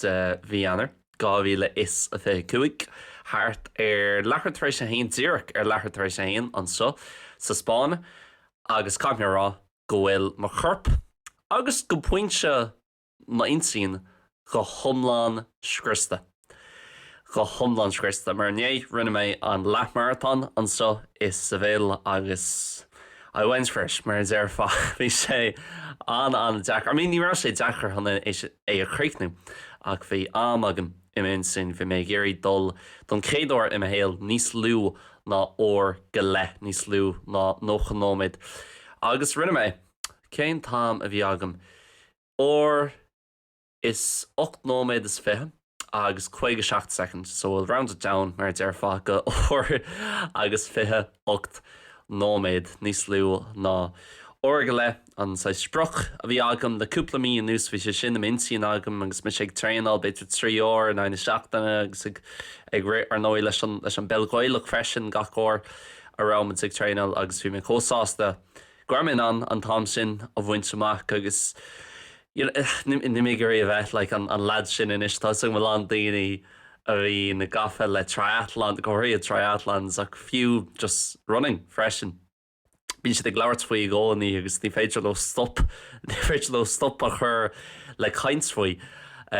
de mhí Eanáir 2025, thart ar leathuair tar éis a haon, díreach ar leathuair tar éis a haon anseo sa Spáinn, agus caithfidh mé a rá go bhfuil mo chorp, agus go pointe m'intinn, go hiomlán scriosta. Go hiomlán scriosta. Mar inné, rinne mé an leath-maratón anseo i Seville agus. I went for it, mar a déarfá. Bhí sé an-an-deacair. I mean, ní raibh sé deacair chun é a chríochnú, ach bhí am agam i m'intinn, bhí mé ag iarraidh dul don chéad uair i mo shaol níos lú ná uair go leith, níos lú ná 90 nóiméad. Agus rinne mé é. Cén t-am a bhí agam? Uair. Is ocht nóiméad is fiche agus caoga seacht second, so we'll round it down, mar a déarfá, go uair agus fiche ocht nóiméad, níos lú ná uair go leith an saghas sprioc a bhí agam. Le cúpla mí anuas bhí sé sin i m'intinn agam agus mise ag traenáil, b'fhéidir trí uair in aghaidh na seachtaine agus ag rith, ar ndóigh, leis an bpeil Ghaelach freisin gach uair a raibh muid ag traenáil agus bhí mé chomh sásta go raibh mé in ann an t-am sin a bhaint amach agus níl mé ag iarraidh a bheith like an lad sin anois tá 'fhios agam a lán daoine a bhíonn gafa le triathlon go háirithe triathlons ach fiú just running freisin bíonn siad ag labhairt faoi i gcónaí agus ní féidir leo stop ní féidir leo stop a chur le caint faoi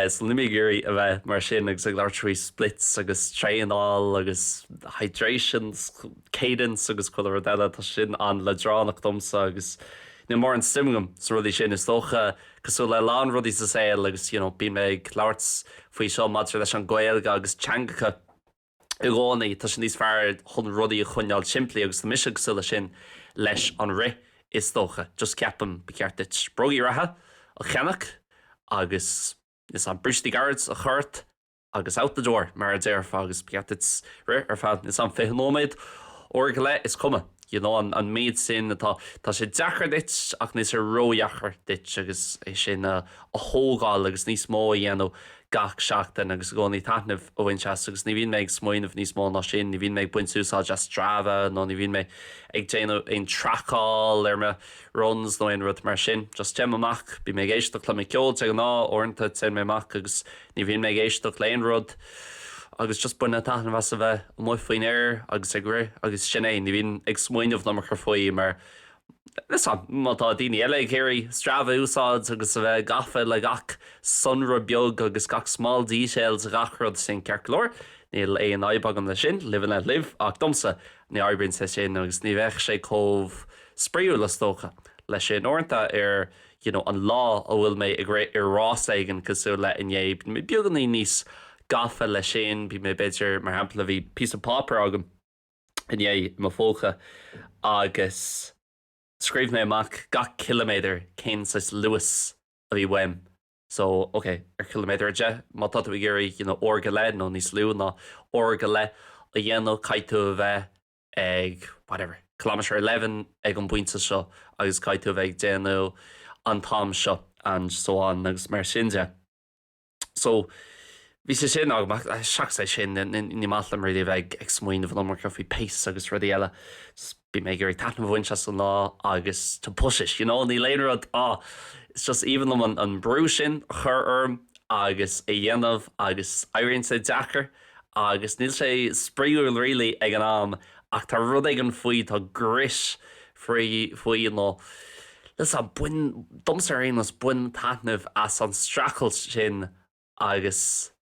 so níl mé ag iarraidh a bheith mar sin agus ag labhairt faoi splits agus traenáil agus hydrations cadence agus chuile rud eile, tá sé sin an-leadránach domsa agus níl mórán suim agam sna rudaí sin. Is dócha, cosúil le a lán rudaí sa saol agus you know bíonn mé ag labhairt faoi seo maidir leis an Ghaeilge agus teangacha i gcónaí, tá sé níos fearr chun rudaí a choinneáil simplí agus tá mise cosúil leis sin leis an rith is dócha. Just ceapaim ba cheart duit brógaí reatha a cheannach agus like, brístí gairid a chur ort. agus out the door, mar a déarfá, agus ba cheart duit rith ar feadh, like, 20 nóiméad, uair go leith, is cuma, you know, an, an méid sin atá, tá sé deacair duit ach níl sé ródheacair duit agus é sin a, a thógáil agus níos mó a dhéanamh gach seachtain agus i gcónaí taitneamh a bhaint as agus ní bhíonn mé ag smaoineamh níos mó ná sin, ní bhíonn mé ag baint úsáid as Strava nó ní bhíonn mé ag déanamh aon tracáil ar mo runs nó aon rud mar sin, just téim amach, bím ag éisteacht le mo ceol de ghnáth, uaireanta téim amach agus Ní bhíonn mé ag éisteacht le aon rud agus just bainim taitneamh as a bheith amuigh faoin aer agus ag rith agus sin é. Ní bhíonn ag smaoineamh níos mó ar chor faoi mar like, má tá daoine eile ag iarraidh Strava a úsáid agus a bheith gafa le gach sonra beag agus gach small details de gach rud sin ceart go leor, níl aon fhadhb agam le sin, live and let live, ach domsa, ní oibríonn sé sin agus ní bheadh sé chomh spraíúil is dócha, leis sin uaireanta ar. you know an lá a bhfuil mé ag rith ar rás éigin cosúil le inné bíonn mé beagáinín níos gafa leis sin bíonn mé b'fhéidir mar shampla bhí píosa páipéar agam inné i mo phóca agus scríobh mé amach gach ciliméadar cén saghas luas a bhí uaim so ok ar chiliméadar a deich má tá tú ag iarraidh you know uair go leith nó níos lú ná uair go leith a dhéanamh caithfidh tú a bheith ag, whatever, kilometre eleven ag an bpointe seo agus caithfidh tú a bheith ag déanamh an t-am seo and so on agus mar sin de. So, bhí sé sin agam ach seachas é sin ní maith liom really a bheith ag smaoineamh an iomarca faoi pace agus rudaí eile. Bím ag iarraidh taitneamh a bhaint as an lá agus to push it, you know, níl aon rud, ah, it's just aoibhinn liom an brú sin a chur orm agus a dhéanamh agus éiríonn sé deacair. Agus níl sé spraíúil really ag an am ach tá rud éigin faoi, tá grit faoi, faoi nó leis an, bain, domsa ar aon nós, bain taitneamh as an streachailt sin agus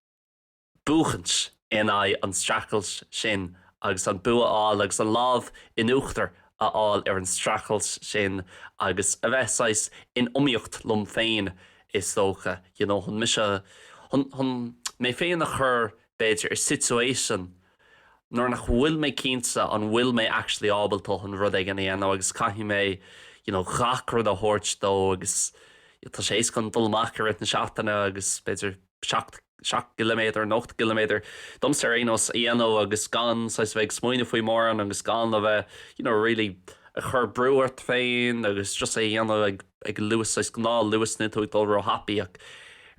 buachaint in aghaidh an streachailt sin agus an bua a fháil agus an lámh in uachtar a fháil ar an streachailt sin agus a bheith saghas in iomaíocht liom féin is dócha, you know chun mise, chun, chun mé féin a chur b'fhéidir i situation nuair nach bhfuil mé cinnte an bhfuil mé actually ábalta chun rud éigin a dhéanamh agus caithfidh mé you know gach rud a thabhairt dó agus tá sé éasca dom dul amach i rith na seachtaine agus b'fhéidir seacht 7 gciliméadar nó 8 gciliméadar domsa ar aon nós, a dhéanamh agus gan saghas a bheith ag smaoineamh faoi mórán agus gan a bheith you know really ag cur brú ort féin agus just é a dhéanamh ag ag luas saghas gnáth luas, níl tú ag dul ró-thapaidh ach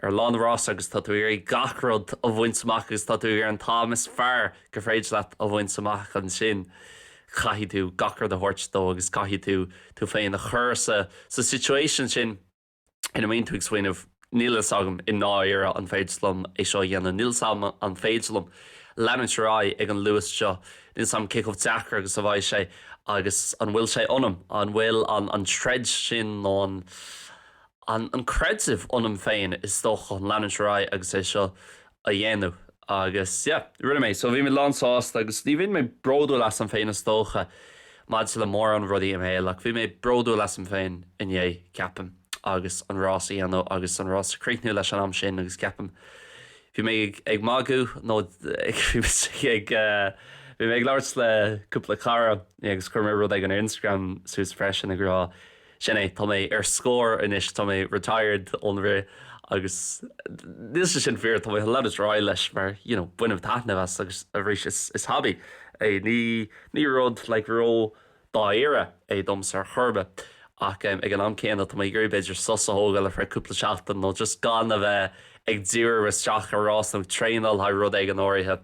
ar lá an rása agus tá tú ag iarraidh gach rud a bhaint amach agus tá tú ag iarraidh an t-am is fearr gur féidir leat a bhaint amach ansin caithfidh tú gach rud a thabhairt dó agus caithfidh tú tú féin a chur sa sa situation sin. ina mbíonn tú ag smaoineamh níl fhios agam i ndáiríre an féidir liom é seo a dhéanamh, níl fhios agam an féidir liom leanúint ar aghaidh ag an luas seo, níl fhios agam cé chomh deacair agus a bheidh sé agus an bhfuil sé ionam, an bhfuil an troid sin nó an creideamh ionam féin is dócha chun leanúint ar aghaidh agus é seo a dhéanamh agus yeah rinne mé so bhí mé lán sásta agus ní bhíonn mé bródúil asam féin is dócha maidir le mórán rudaí im' shaol ach bhí mé bródúil asam féin inné ceapaim agus an rás a dhéanamh agus an rás a chríochnú leis an am sin agus ceapaim bhí mé ag ag magadh nó ag ag bhí mé ag labhairt le cúpla cara agus chuir mé rud éigin Instagram suas freisin ag rá Sin é, tá mé ar scor anois, tá mé retired ón rith agus níl sé sin fíor, tá mé chun leanúint ar aghaidh leis mar you know bainim taitneamh as agus arís is hobby é, ní rud like ró-dáiríre é domsa ar chor ar bith ach em ag an am céanna tá mé ag iarraidh b'fhéidir sos a thógáil ar feadh cúpla seachtain nó just gan a bheith ag dírú isteach ar rás nó traenáil le haghaidh rud éigin áirithe.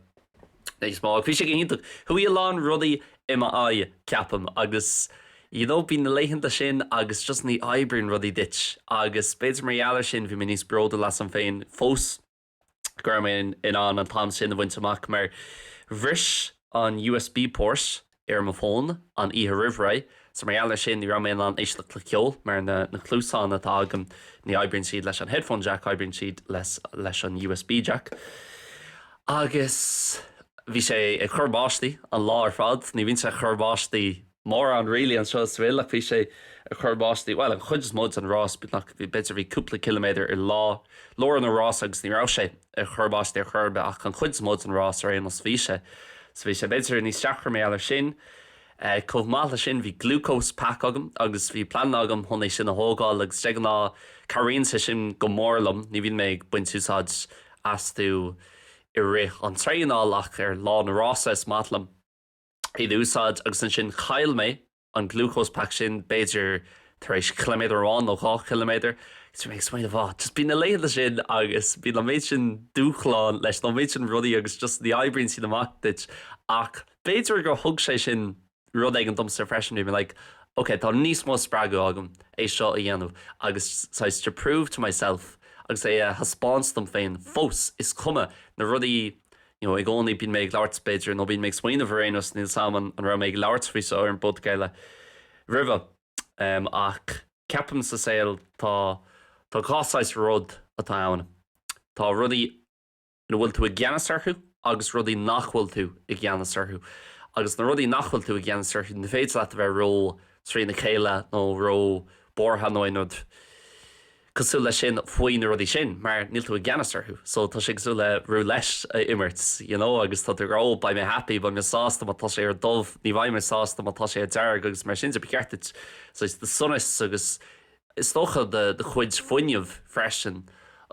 níos mó. Bhí sé go hiontach. Chuaigh a lán rudaí i m'aghaidh, ceapaim, agus you know bíonn na laethanta sin agus just ní oibríonn rudaí duit agus b'fhéidir mar gheall ar sin bhí mé níos bródúil asam féin fós go raibh mé in ann an t-am sin a bhaint amach mar bhris an USB port ar mo fón an oíche roimh ré so mar gheall ar sin ní raibh mé in ann éisteacht le ceol mar na na cluasáin atá agam ní oibríonn siad leis an headphone jack oibríonn siad leis leis an usb jack agus bhí sé ag cur báistí an lá ar fad ní bhíonn sé ag cur báistí mórán really anseo an bhfuil ach bhí sé ag cur báistí bhuel an chuid is mó den rás ach b'fhéidir bhí cúpla ciliméadar i lá lár an rás agus ní raibh sé ag cur báistí ar chor ar bith ach an chuid is mó den rás ar aon nós. Bhí sé, so bhí sé, b'fhéidir níos deacra mar gheall ar sin. Chomh maith leis sin bhí glucose pack agam agus bhí plean agam chun é sin a thógáil agus de ghnáth cabhraíonn sé sin go mór liom, ní bhíonn mé ag baint úsáid astu i rith an traenáil ach ar lá na rása is maith liom. iad a úsáid agus ansin chaill mé an glucose pack sin b'fhéidir tar éis ciliméadar amháin nó dhá chiliméadar agus mé ag smaoineamh á just bíonn na laethanta sin agus bíonn an méid sin dúshláin leis nó an méid sin rudaí agus just ní oibríonn sin amach duit ach b'fhéidir gur thug sé sin rud éigin domsa freisin bhí mé like ok tá níos mó spreagadh agam é seo a dhéanamh agus saghas to prove to myself agus é a thaispeáint dom féin fós is cuma na rudaí i gcónaí bíonn mé ag labhairt, b'fhéidir, nó bíonn mé ag smaoineamh ar aon nós, níl 's a'm an raibh mé ag labhairt faoi seo ar an bpodchraoladh roimhe, em, ach ceapaim sa saol tá, tá dhá saghas rud atá ann, tá rudaí ina bhfuil tú i gceannas orthu agus rudaí nach bhfuil tú i gceannas orthu agus na rudaí nach bhfuil tú i gceannas orthu, ní féidir leat a bheith ró, trína chéile nó ró buartha nó aon rud. cosúil leis sin faoi na rudaí sin mar níl tú i gceannas orthu so tá sé cosúil le roulette a imirt you know agus tá tú oh beidh mé happy beidh mé sásta má tá sé ar dubh ní bheidh mé sásta má tá sé ar dearg agus mar sin de ba cheart duit saghas do shonas agus is dócha do chuid fuinnimh freisin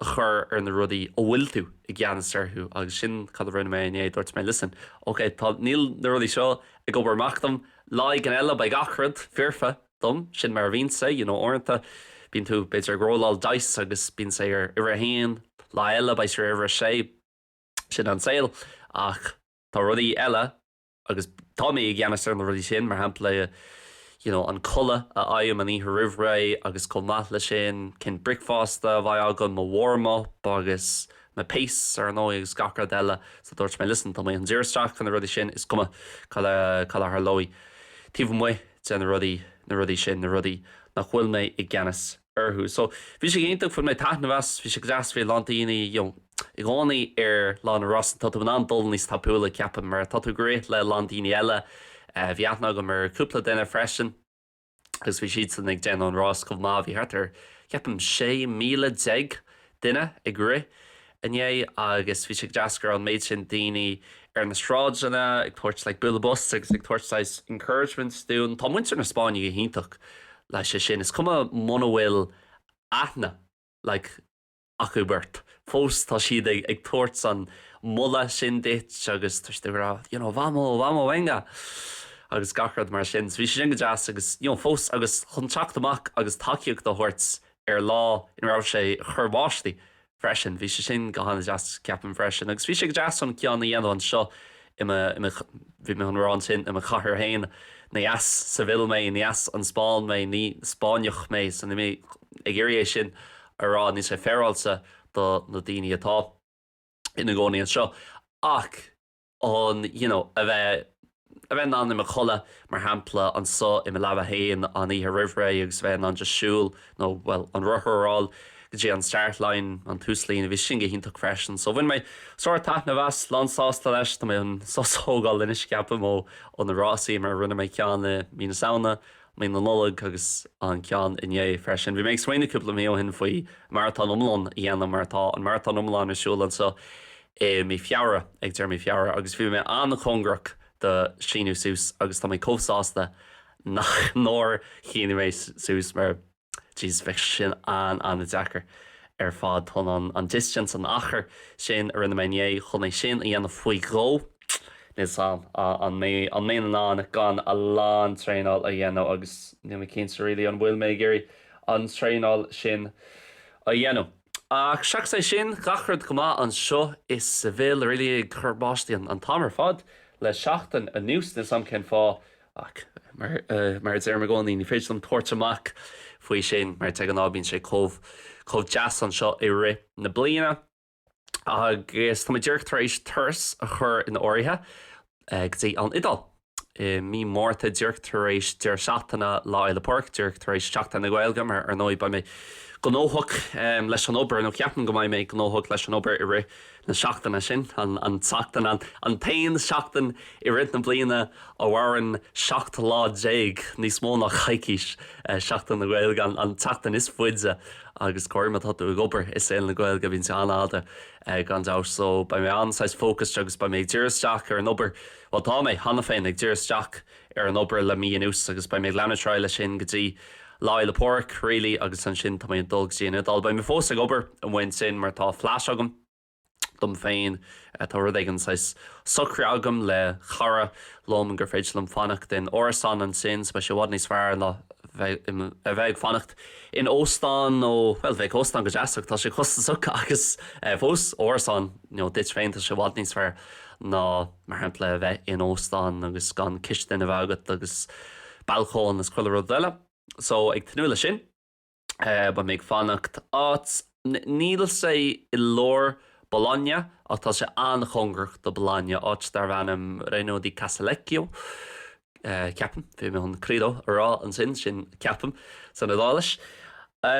a chur ar na rudaí a bhfuil tú i gceannas orthu agus sin cad a rinne mé inné dúirt mé listen ok tá níl na rudaí seo ag obair amach dom lá éigin eile beidh gach rud foirfe dom. Sin mar a bhíonn sé, you know, uaireanta bíonn tú, b'fhéidir, ag rolláil dice agus bíonn sé ar uimhir a haon, lá eile beidh sé ar uimhir a sé. Sin an saol. Ach tá rudaí eile agus tá mé i gceannas ar na rudaí sin, mar shampla, you know, an codladh a fhaighim an oíche roimh ré agus chomh maith leis sin, cén bricfeasta a bheidh agam, mo warm-up agus mo pace, ar ndóigh, agus gach rud eile. So dúirt mé, listen, tá mé chun díriú isteach ar na rudaí sin, is cuma cad a tharlóidh taobh amuigh. de na rudaí, na rudaí sin, na rudaí nach bhfuil mé i gceannas orthu. So, bhí sé iontach, bhain mé taitneamh as, bhí sé go deas, bhí a lán daoine, you know, i gcónaí ar lá an rása, tá tú in ann dul níos tapúla, ceapaim, mar tá tú ag rith le a lán daoine eile, bhí aithne agam ar cúpla duine freisin agus bhí siadsan ag déanamh an rás chomh maith, bhí thart ar, ceapaim, sé míle déag duine ag rith inné agus bhí sé go deas go raibh an méid sin daoine ar na sráideanna ag tabhairt like bualadh bos agus ag tabhairt saghas encouragement dúinn. Tá muintir na Spáinne go hiontach leis sin. Is cuma muna bhfuil aithne like acu ort, fós tá siad ag ag tabhairt an moladh sin duit agus tá siad ag rá you know vamos, vamos, venga agus gach rud mar sin. So bhí sé sin go deas agus you know fós agus chun teacht amach agus tacaíocht a thabhairt ar lá ina raibh sé ag cur báistí freisin. Bhí sé sin go han-deas ceapaim freisin agus bhí sé go deas ceann a dhéanamh anseo i mo, i mo, bhí mé chun a rá ansin i mo chathair féin, ní as Seville mé, ní as an Spáinn mé, ní Spáinneach mé so níl mé ag iarraidh é sin a rá, níl sé féaráilte do na daoine atá ina gcónaí anseo ach, an, you know, a bheith, a bheith in ann codladh, mar shampla, anso i mo leaba féin an oíche roimhré agus a bheith in ann just siúl nó, bhuel, an rothar a fháil go dtí an start line, an túslíne, bhí sin go hiontach freisin. So bhain mé sár taitneamh as, lán sásta leis, tá mé chun sos a thógáil anois ceapaim ó, ó na rásaí mar rinne mé ceann i Mí na Samhna, Mí na Nollag agus an ceann inné freisin. Bhí mé ag smaoineamh cúpla mí ó shin faoi maratón iomlán a dhéanamh mar tá an maratón iomlán ar siúl anso i mí Feabhra, ag deireadh mí Feabhra, agus bhí mé an-chóngarach do síniú suas agus tá mé chomh sásta nach nár shínigh mé suas mar Jesus bheadh sin an-an-deacair ar fad. Chun an distance, an achar sin a rinne mé inné chun é sin a dhéanamh faoi dhó, níl 's 'am an mbeidh an mbeinn in ann gan a lán traenáil a dhéanamh agus níl mé cinnte really an bhfuil mé ag iarraidh an traenáil sin a dhéanamh. Ach seachas é sin, gach rud go maith anseo i Seville really, ag cur báistí an t-am ar fad le seachtain anuas, níl 's a'm cén fáth ach mar a deirim i gcónaí, ní féidir liom tabhairt amach faoi sin mar de ghnáth bíonn sé chomh, chomh deas anseo i rith na bliana agus tá mé díreach tar éis turas a chur in áirithe go dtí an Iodáil. i mí Márta, díreach tar éis deireadh seachtaine Lá Fhéile Pádraig, díreach tar éis Sheachtain na Gaeilge, mar ar ndóigh beidh mé gnóthach leis an obair, nó ceapaim go mbeidh mé gnóthach leis an obair i rith na seachtaine sin, an tseachtain, an t-aon seachtain i rith na bliana a mhaireann 17 lá, níos mó ná coicís, Seachtain na Gaeilge, an tseachtain is faide agus go háirithe má tá tú ag obair i saol na Gaeilge, bíonn sé an-fhada gan dabht, so beidh mé an-saghas focused agus beidh mé ag díriú isteach ar an obair. Bhuel, tá mé, cheana féin, ag díriú isteach ar an obair le mí anuas agus beidh mé ag leanúint ar aghaidh leis sin go dtí Lá Fhéile Pádraig, really, agus ansin tá mé ag dul go dtí an Iodáil. Beidh mé fós ag obair amuigh ansin mar tá flat agam dom féin, tá rud éigin, saghas socraithe agam le cara liom gur féidir liom fanacht in árasán ansin, so beidh sé i bhfad níos fearr ná a bheith ag fanacht in óstán nó, bhuel, bheadh óstán go deas ach tá sé costasach agus fós, árasán, you know, duit féin, tá sé i bhfad níos fearr ná, mar shampla, a bheith in óstán agus gan cistin a bheith agat agus balcóin is chuile rud eile. So, ag tnúth leis sin, beidh mé ag fanacht áit, níl sé i lár Bologna ach tá sé an-chóngarach do Bologna, áit darb ainm Reno di Casalecchio. ceapaim, bhí mé chun credo a rá ansin, sin ceapaim san Iodáilis.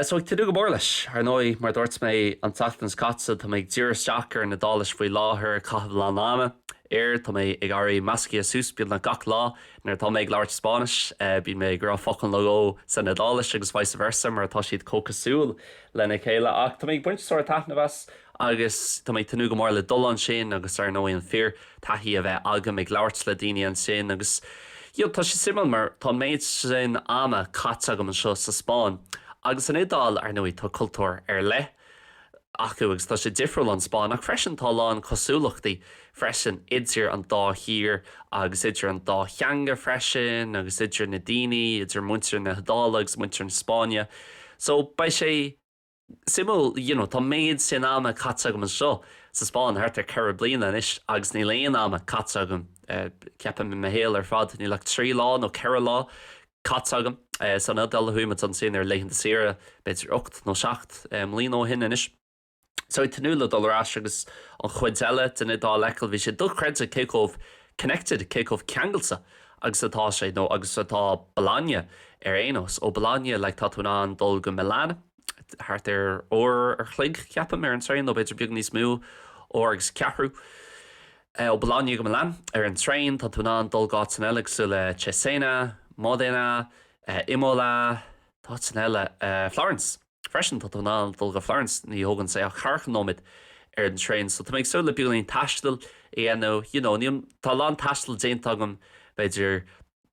So ag tnúth go mór leis. Ar ndóigh, mar dúirt mé an tseachtain seo caite, tá mé ag díriú isteach ar an Iodáilis faoi láthair, ag caitheamh a lán ama air, tá mé ag éirí measctha suas beagnach gach lá, nuair atá mé ag labhairt Spáinnis, bíonn mé ag rá focal nó dhó san Iodáilis agus vice versa mar tá siad chomh cosúil lena chéile ach tá mé ag baint sár-taitneamh as agus tá mé ag tnúth go mór le dul ansin agus ar ndóigh an fíor taithí a bheith agam ag labhairt le daoine ansin agus you know tá sé suimiúil mar tá an méid sin ama caite agam anseo sa Spáinn agus an Iodáil, ar ndóigh tá cultúr ar leith acu agus tá sé difriúil ón Spáinn ach freisin tá a lán cosúlachtaí freisin idir an dá thír agus idir an dá theanga freisin agus idir na daoine, idir muintir na hIodáile agus muintir na Spáinne so beidh sé. suimiúil you know tá méid sin ama caite agam anseo sa Spáinn thart ar ceithre bliana anois agus níl aon ama caite agam ceapaim i mo shaol ar fad níl ach trí lá nó ceithre lá caite agam san Iodáil a chuaigh muid ansin ar laethanta saoire b'fhéidir ocht nó seacht mbliana ó shin anois so ag tnúth le dul ar ais agus an chuid eile den Iodáil a fheiceáil bhí sé dochreidte cé chomh connected cé chomh ceangailte agus atá sé nó agus atá Bologna ar aon nós. Ó Bologna like tá tú in ann dul go Milan thart ar uair ar chloig ceapaim ar an traein nó b'fhéidir beag níos mó uair agus ceathrú. Ó Bologna go Milan ar an traein tá tú in ann dul go áiteanna eile cosúil le Cesena, Modena, Imola, tá áiteanna eile, Florence. Freisin, tá tú in ann dul go Florence, ní thógann sé ach daichead nóiméad ar an traein. So tá mé ag súil le beagáinín taistil a dhéanamh, you know, níl, tá a lán taistil déanta agam, b'fhéidir,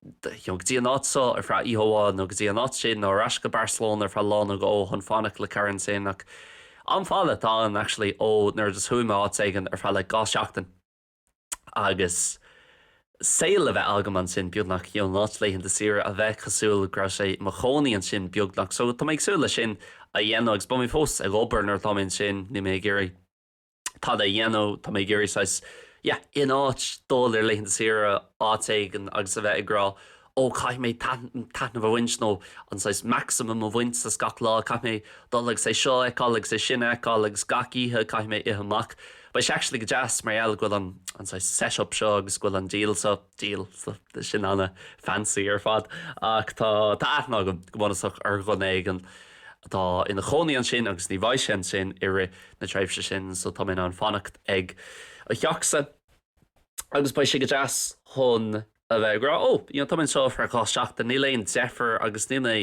you know, go dtí an áit seo ar feadh oíche amháin nó go dtí an áit sin nó ar ais go Barcelona ar feadh lá nó dhó chun fanacht le cara ansin ach am fada atá ann actually ó nuair a just chuaigh mé áit éigin ar feadh like dhá sheachtain. agus saol a bheith agam ansin beagnach you know in áit laethanta saoire a bheith cosúil go raibh mé i mo chónaí ansin beagnach so tá mé ag súil leis sin a dhéanamh agus beidh mé fós ag obair nuair atá mé ansin níl mé ag iarraidh a lán a dhéanamh tá mé ag iarraidh saghas yeah in áit dul ar laethanta saoire áit éigin agus a bheith ag rá oh caithfidh mé taitneamh a bhaint nó an saghas maximum a bhaint as gach lá, caithfidh mé dul agus é seo a fheiceáil agus é sin a fheiceáil agus gach oíche caithfidh mé ithe amach. Beidh sé actually go deas mar gheall go bhfuil an an saghas set up seo agus go bhfuil an deal seo, deal, sin ana fancy ar fad ach tá tá aithne agam go bunúsach ar dhuine éigin atá ina chónaí ansin agus ní bheidh sé ansin i rith na tréimhse sin so tá mé in ann fanacht ag a theachsa agus beidh sé go deas chun a bheith ag rá, 'Ó, you know, tá mé anseo ar feadh dhá sheachtain, níl aon deifir agus níl mé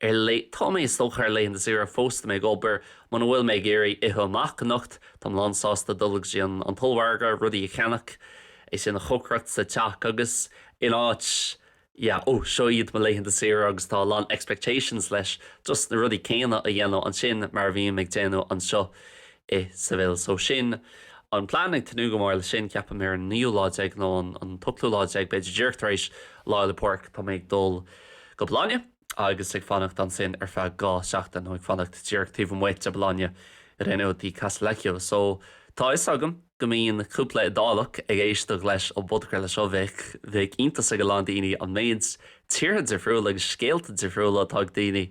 ar lae, tá mé, is dócha, ar laethanta saoire fós, tá mé ag obair, muna bhfuil mé ag iarraidh ithe amach anocht, táim lánsásta dul go dtí an t-ollmhargadh, rudaí a cheannach, é sin a chócaireacht sa teach agus in áit yeah, 'Ó, seo iad mo laethanta saoire agus tá a lán expectations leis, just na rudaí céanna a dhéanamh ansin mar a bhím ag déanamh anseo. i Seville. So sin an plean, ag tnúth go mór leis sin. Ceapaim ar an naoú lá déag nó an t-ochtú lá déag b'fhéidir, díreach tar éis Lá Fhéile Pádraig, tá mé ag dul go Bologna agus ag fanacht ansin ar feadh dhá sheachtain nó ag fanacht díreach taobh amuigh de Bologna, Reno di Casalecchio. So tá 'fhios agam go mbíonn cúpla Iodálach ag éisteacht leis an bpodchraoladh seo, bheadh, bheadh iontas ar a lán daoine an méid tíortha difriúla agus scéalta difriúla atá ag daoine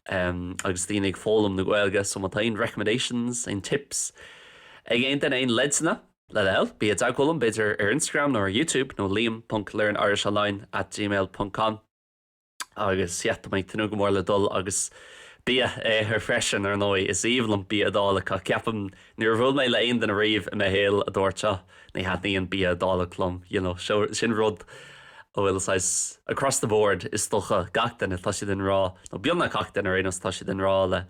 agus daoine ag foghlaim na Gaeilge so má tá aon recommendations, aon tips ag aon duine, aon leidseanna le bhur dtoil, bí i dteagmháil liom b'fhéidir ar Instagram nó ar Youtube nó liam.learnirishonline at gmail ponc com agus yeah, tá mé ag tnúth go mór le dul agus bia a ithe freisin ar ndóigh is aoibhinn liom bia Iodálach ceapaim Níor bhuail mé le aon duine riamh i mo shaol a dúirt, oh, ní thaitníonn bia Iodálach liom, you know, sin rud a bhfuil saghas across the board is dócha, gach duine, tá siad i ngrá, nó beagnach gach duine ar aon nós, tá siad i ngrá le,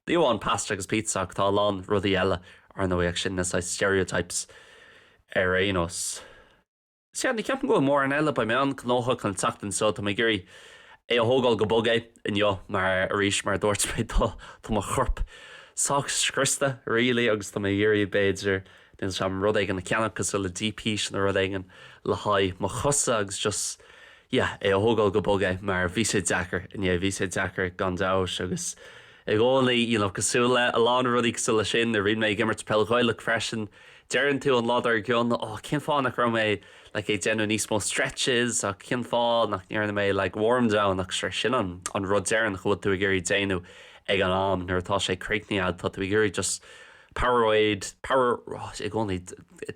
ní amháin pasta agus pizza ach tá a lán rudaí eile, ar ndóigh, ach sin na saghas stereotypes ar aon nós. Sea, ní cheapaim go bhfuil mórán eile beidh mé an-gnóthach an tseachtain seo, tá mé ag iarraidh é a thógáil go bog inniu mar arís mar a dúirt mé tá tá mo chorp sách scriosta really agus tá mé ag iarraidh b'fhéidir níl sé a'm rud éigin a cheannach cosúil le Deep Heat nó rud éigin le haghaidh mo chosa agus just yeah é a thógáil go bog mar bhí sé deacair inné bhí sé deacair gan dabht agus i gcónaí you know cosúil le a lán rudaí cosúil le sin nuair a bhíonn mé ag imirt peil Ghaelach freisin Deireann tú an lá dár gcionn, oh, cén fáth nach raibh mé like ag déanamh níos mó stretches cén fáth nach ndearna mé like warm down ach sure sin an an rud deireanach a bhfuil tú ag iarraidh déanamh ag an am nuair atá sé críochnaithe agat tá tú ag iarraidh just powerade power oh, i gcónaí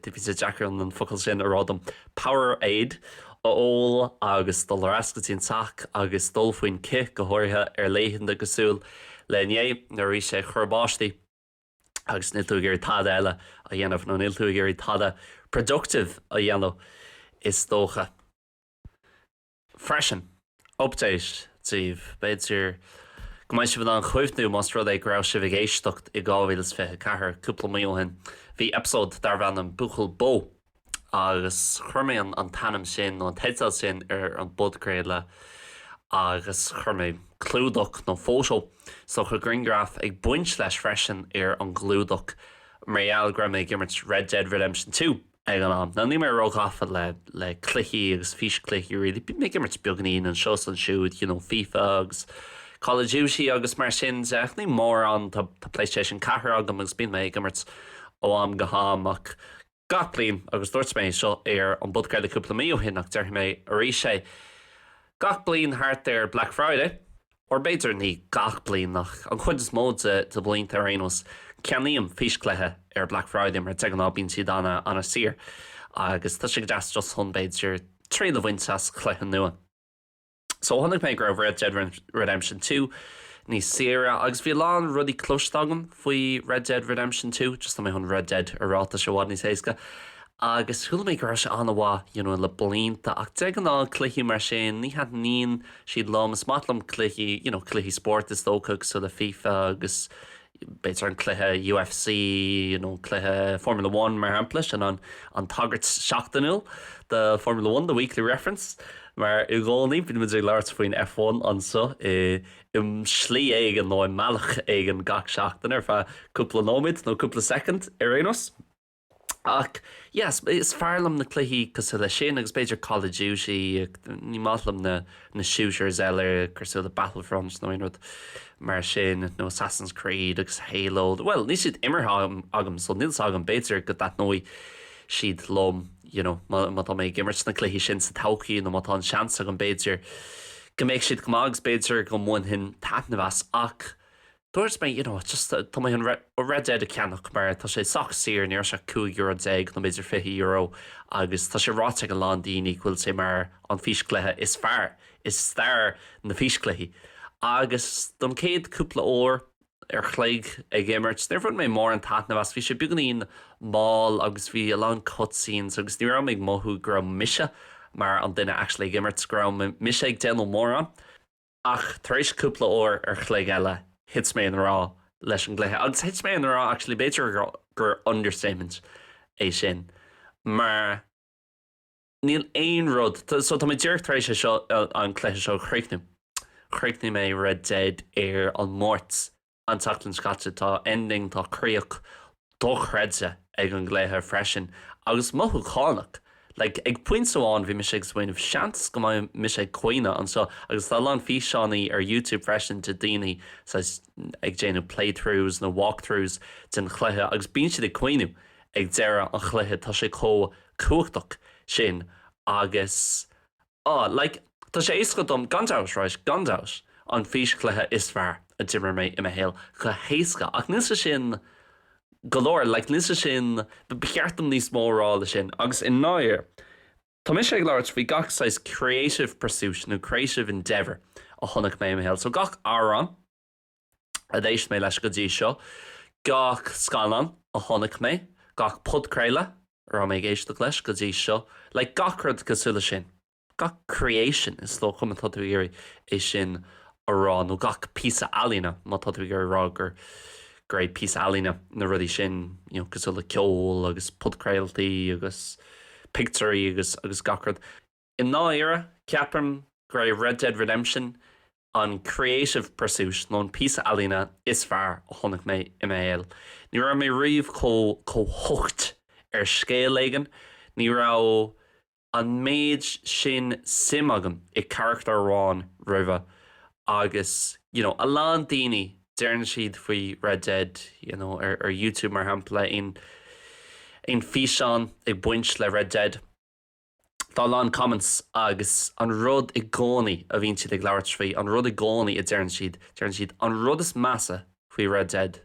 bhí sé deacair an an focal sin a rá dom powerade a ól agus dul ar ais go dtí an teach agus dul faoin cith go háirithe ar laethanta cosúil le inné nuair a bhí sé ag cur báistí agus níl tú ag iarraidh tada eile a dhéanamh nó níl tú ag iarraidh tada productive a dhéanamh is dócha. Freisin, update daoibh, b'fhéidir go mbeidh sibh in ann cuimhniú más rud é go raibh sibh ag éisteacht i 2024, cúpla mí ó shin, bhí eipeasóid darbh ainm Buachaill Bó. agus chuir mé an t-ainm sin nó an teideal sin ar an bpodchraoladh agus chuir mé clúdach nó photo sórt grianghraf ag baint leis freisin ar an gclúdach mar gheall go raibh mé ag imirt Red Dead Redemption Two ag an am. Now níl mé ró-ghafa le le cluichí agus fís-cluichí really, bím ag imirt beagainín anseo is ansiúd you know Fifa agus Call of Duty agus mar sin de ach ní mórán, tá tá PlayStation 4 agam agus bím ag imirt ó am go ham ach gach bliain agus dúirt mé seo ar an bpodchraoladh cúpla mí ó shin ach déarfaidh mé arís é gach bliain thart ar Black Friday, or b'fhéidir ní gach bliain ach an chuid is mó de de bhlianta ar aon nós, ceannaím fís-cluiche ar Black Friday mar de ghnáth bíonn siad ana ana saor agus tá sé go deas just chun b'fhéidir triail a bhaint as cluiche nua. Chonaic mé go raibh Red Dead Redemption 2 níos saoire agus bhí a lán rudaí cloiste agam faoi Red Dead Redemption 2, just tá mé chun Red Dead a rá tá sé i bhfad níos éasca, agus chuala mé go raibh sé an-mhaith you know le blianta ach de ghnáth cluichí mar sin ní thaitníonn siad liom, is maith liom cluichí you know cluichí spóirt is dócha cosúil le fifa agus b'fhéidir an cluiche UFC nó an cluiche Formula One, mar shampla, sin an tagairt seachtainiúil do Formula One, the weekly reference, mar i gcónaí bíonn muid ag labhairt faoin F1 anseo i slí éigin nó i mbealach éigin gach seachtain ar feadh cúpla nóiméad nó cúpla soicind ar aon nós. Ach yes, is fearr liom na cluichí cosúil le sin agus b'fhéidir Call of Duty, ní maith liom na na shooters eile cosúil le Battlefront nó rud mar sin nó Assassin's Creed agus Halo, bhuel níl siad imeartha agam so níl a fhios agam, b'fhéidir go dtaitneoidh siad liom you know má tá mé ag imirt na cluichí sin sa todhchaí nó má tá an seans agam b'fhéidir go mbeidh siad go maith agus b'fhéidir go mbainfinn taitneamh as ach Dúirt mé, you know, just, tá mé chun Red Dead a cheannach mar tá sé sách saor, ní raibh sé ach cúig euro déag nó b'fhéidir fiche euro agus tá sé ráite ag a lán daoine go bhfuil sé mar an físchluiche is fearr i stair na físchluichí. Agus don chéad cúpla uair ar chloig ag imirt, níor bhain mé mórán taitneamh as, bhí sé beagáinín mall agus bhí a lán cutscenes agus ní raibh mé ag mothú go raibh mise mar an duine actually ag imirt, go raibh mise ag déanamh mórán. Ach tar éis cúpla uair ar chloig eile, thit mé i ngrá leis an gcluiche. Agus thit mé i ngrá, actually, b'fhéidir gur understatement é sin, mar níl aon rud, so tá mé díreach tar éis é seo, an cluiche seo a chríochnú. Chríochnaigh mé Red Dead ar an Máirt An tseachtain seo caite, tá ending, tá críoch, dochreidte ag an gcluiche freisin agus mothúchánach. Like, ag pointe amháin bhí mise ag smaoineamh seans go mbeidh mise ag caoineadh anseo agus tá a lán físeánaí ar YouTube freisin de daoine saghas ag déanamh playthroughs nó walkthroughs den chluiche agus bíonn siad ag caoineadh ag deireadh an chluiche, tá sé chomh cumhachtach sin agus. Ah, like, tá sé éasca dom, gan dabht, right, gan dabht, an físchluiche is fearr a d'imir mé i mo shaol, go héasca, ach níl sé sin go leor, like, níl sé sin, ba cheart dom níos mó a rá ná sin. Agus i ndáiríre, tá mise ag labhairt faoi gach saghas creative pursuit nó creative endeavour a chonaic mé i mo shaol, so gach amhrán, a d'éist mé leis go dtí seo, gach scannán a chonaic mé, gach podchraoladh a raibh mé ag éisteacht leis go dtí seo, like gach rud cosúil le sin, gach creation is dócha má tá tú ag iarraidh é sin a rá nó gach píosa ealaíne má tá tú ag iarraidh a rá gur, gur é píosa ealaíne na rudaí sin you know cosúil le ceol agus podchraoltaí agus pictiúirí agus gach rud. I ndáiríre, ceapaim go raibh Red Dead Redemption an creative pursuit nó an píosa ealaíne is fearr a chonaic mé i mo shaol. Ní raibh mé riamh chomh chomh hooked ar scéal éigin, ní raibh an méid sin suim agam i gcarachtar amháin roimhe agus you know a lán daoine, deireann siad faoi Red Dead you know ar ar YouTube mar shampla, aon aon físeán ag baint le Red Dead. Tá a lán comments agus an rud i gcónaí a bhíonn siad ag labhairt faoi, an rud i gcónaí a deireann siad, deireann siad an rud is measa faoi Red Dead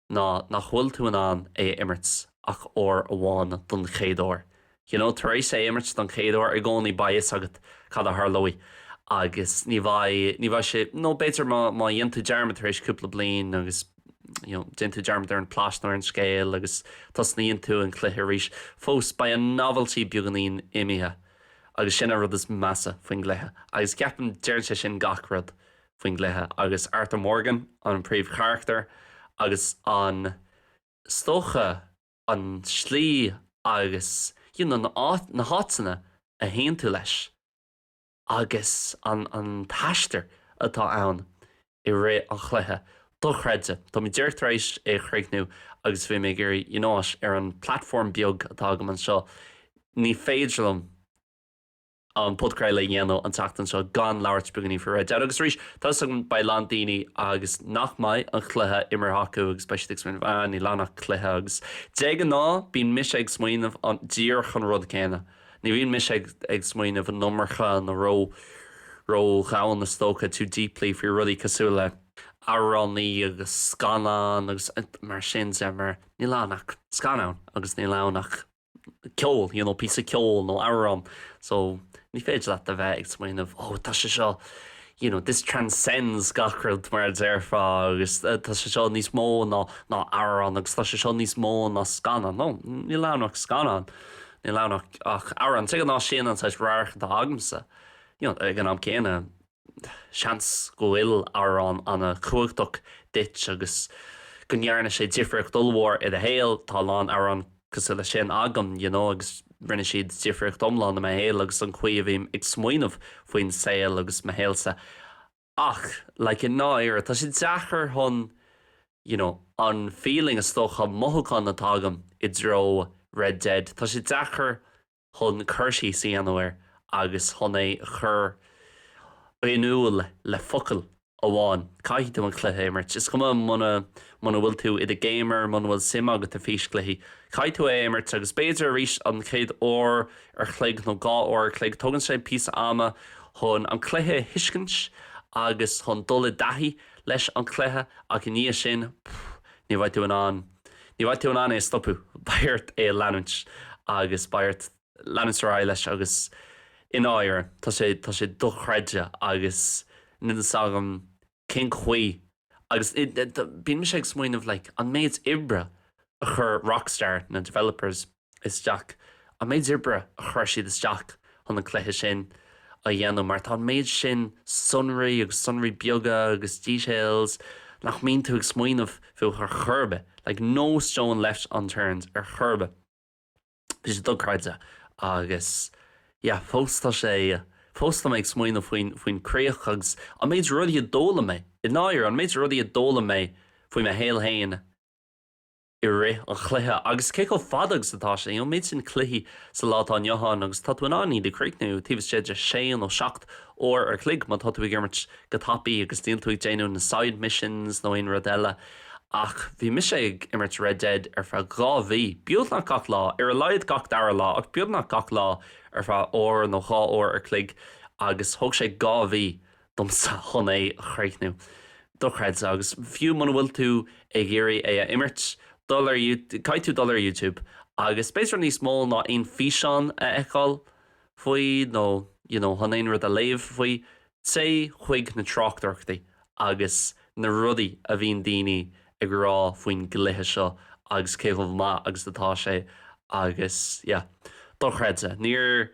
ná nach bhfuil tú in ann é a imirt ach uair amháin don chéad uair. You know, tar éis é a imirt don chéad uair i gcónaí beidh fhios agat cad a tharlóidh agus ní bheidh, ní bheidh sé, nó b'fhéidir má dhéan tú dearmad tar éis cúpla bliain agus. Déan tú dearmad ar an bplot nó ar an scéal agus tosnaíonn tú an cluiche arís. Fós, beidh an novelty beagáinín imithe agus sin an rud is measa faoin gcluiche agus ceapaim deireann sé sin gach rud faoin gcluiche agus Arthur Morgan an príomhcharachtar agus is dócha, an slí agus you know na háiteanna a théann tú leis. agus an t-aistear atá ann i rith an chluiche, dochreidte. Tá mé díreach tar éis é a chríochnú agus bhí mé ag iarraidh, you know, ar an platform beag atá agam anseo, ní féidir liom an podchraoladh a dhéanamh an tseachtain seo gan labhairt beagáinín faoi Red Dead agus arís, tá 'fhios agam beidh a lán daoine agus nach mbeidh an chluiche imirthe acu agus beidh siad ag smaoineamh, ah níl ann ach cluiche agus de ghnáth bíonn mise ag smaoineamh díreach an rud céanna. Ní bhíonn mise ag smaoineamh an iomarca nó ró-dhomhain is dócha, too deeply, faoi rudaí cosúil le amhránaí agus scannáin agus mar sin de mar níl ann ach scannán agus níl ann ach ceol, you know, píosa ceoil nó amhrán so ní féidir leat a bheith ag smaoineamh oh tá sé seo you know, this transcends gach rud mar a déarfá agus tá sé seo níos mó ná amhrán agus tá sé seo níos mó ná scannán, no, níl ann ach scannán. Níl ann ach amhrán. De ghnáth sin, an saghas radharc atá agamsa. Ag an am céanna, seans go bhfuil amhrán an-chumhachtach duit agus go ndearna sé difríocht ollmhór i do shaol. Tá a lán amhrán cosúil leis sin agam you know agus rinne siad difríocht iomlán i mo shaol agus an chaoi a bhím ag smaoineamh faoin saol agus mo shaolsa. Ach, like, i ndáiríre, tá sé deacair chun, you know, an feeling, is dócha, mothúchán atá agam i dtreo Red Dead, tá sé deacair chun cur síos a dhéanamh air agus chun é a chur in iúl le focail amháin. Caithfidh tú an cluiche a imirt. Is cuma muna Muna bhfuil tú i do gamer, muna bhfuil suim agat i físchluichí, caithfidh tú é a imirt agus b'fhéidir arís an chéad uair ar chloig nó dhá uair ar chloig tugann sé píosa ama chun an cluiche a thuiscint agus chun dul i dtaithí leis an gcluiche ach i ndiaidh sin, ní bheidh tú in ann, ní bheidh tú in ann é a stopadh, beidh ort é a leanúint agus beidh ort leanúint ar aghaidh leis agus i ndáiríre tá sé, tá sé dochreidte agus níl fhios agam cén chaoi agus bíonn sé ag smaoineamh like an méid oibre a chuir Rockstar, na developers, isteach, an méid oibre a chuir siad isteach chun an cluiche sin a dhéanamh mar tá an méid sin sonraí agus sonraí beaga agus details nach mbíonn tú ag smaoineamh fúthu ar chor ar bith, like no stone left unturned ar chor ar bith. Bhí sé dochreidte agus yeah fós tá sé, fós tá mé ag smaoineamh faoin, faoin críoch agus an méid rudaí a d'fhoghlaim mé, i ndáiríre, an méid rudaí a d'fhoghlaim mé faoi mo shaol féin i rith an chluiche agus cé chomh fada agus atá sé, you know, an méid sin cluichí sa lá atá inniu ann agus tá tú in ann iad a chríochnú taobh istigh de sé nó seacht uair ar chloig má tá tú ag imirt go tapaidh agus níl tú ag déanamh na side missions nó aon rud eile. Ach bhí mise ag imirt Red Dead ar feadh dhá mhí, beagnach gach lá, ar a laghad gach dara lá, ach beagnach gach lá ar feadh uair nó dhá uair ar chloig, agus thóg sé dhá mhí domsa chun é a chríochnú. Dochreidte. Agus fiú muna bhfuil tú ag iarraidh é a imirt, caithfidh tú dul ar YouTube agus b'fhéidir níos mó ná aon físeán a fheiceáil faoi nó, you know, chun aon rud a léamh faoi. Téigh chuig na tráchtaireachtaí agus na rudaí a bhíonn daoine ag rá faoin gcluiche seo agus cé chomh maith agus atá sé agus yeah. Dochreidte. Níor,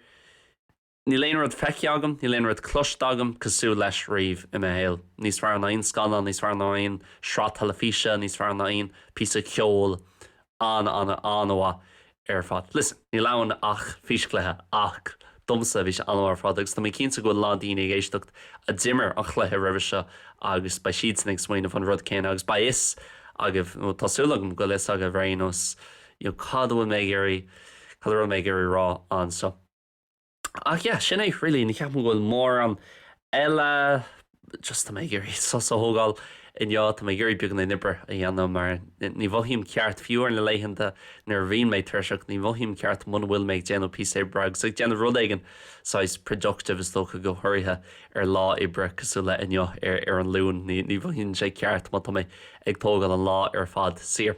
níl aon rud feicthe agam, níl aon rud cloiste agam cosúil leis riamh i mo shaol. Níos fearr ná aon scannán, níos fearr ná aon sraith teilifíse, níos fearr ná aon píosa ceoil an an an mhaith ar fad. Listen, níl ann ach físchluiche ach domsa bhí sé an-mhaith ar fad agus tá mé cinnte go bhfuil lán daoine ag éisteacht a d'imir an chluiche roimhe seo agus beidh siadsan ag smaoineamh an rud céanna agus beidh fhios agaibh nó tá súil agam go bhfuil fhios agaibh ar aon nós, you know, cad a bhfuil mé ag iarraidh, cad a raibh mé ag iarraidh rá anseo. Ach yeah, sin é really, ní ceapaim go bhfuil mórán eile just tá mé ag iarraidh sos a thógáil inniu, tá mé ag iarraidh beagán oibre a dhéanamh mar ní mhothaím ceart fiú ar na laethanta nuair a bhíonn mé tuirseach, ní mhothaím ceart muna bhfuil mé ag déanamh píosa oibre agus ag déanamh rud éigin saghas productive is dócha go hairithe ar lá oibre cosúil le inniu ar ar an Luan, ní mhothaíonn sé ceart má tá mé ag tógáil an lá ar fad saor.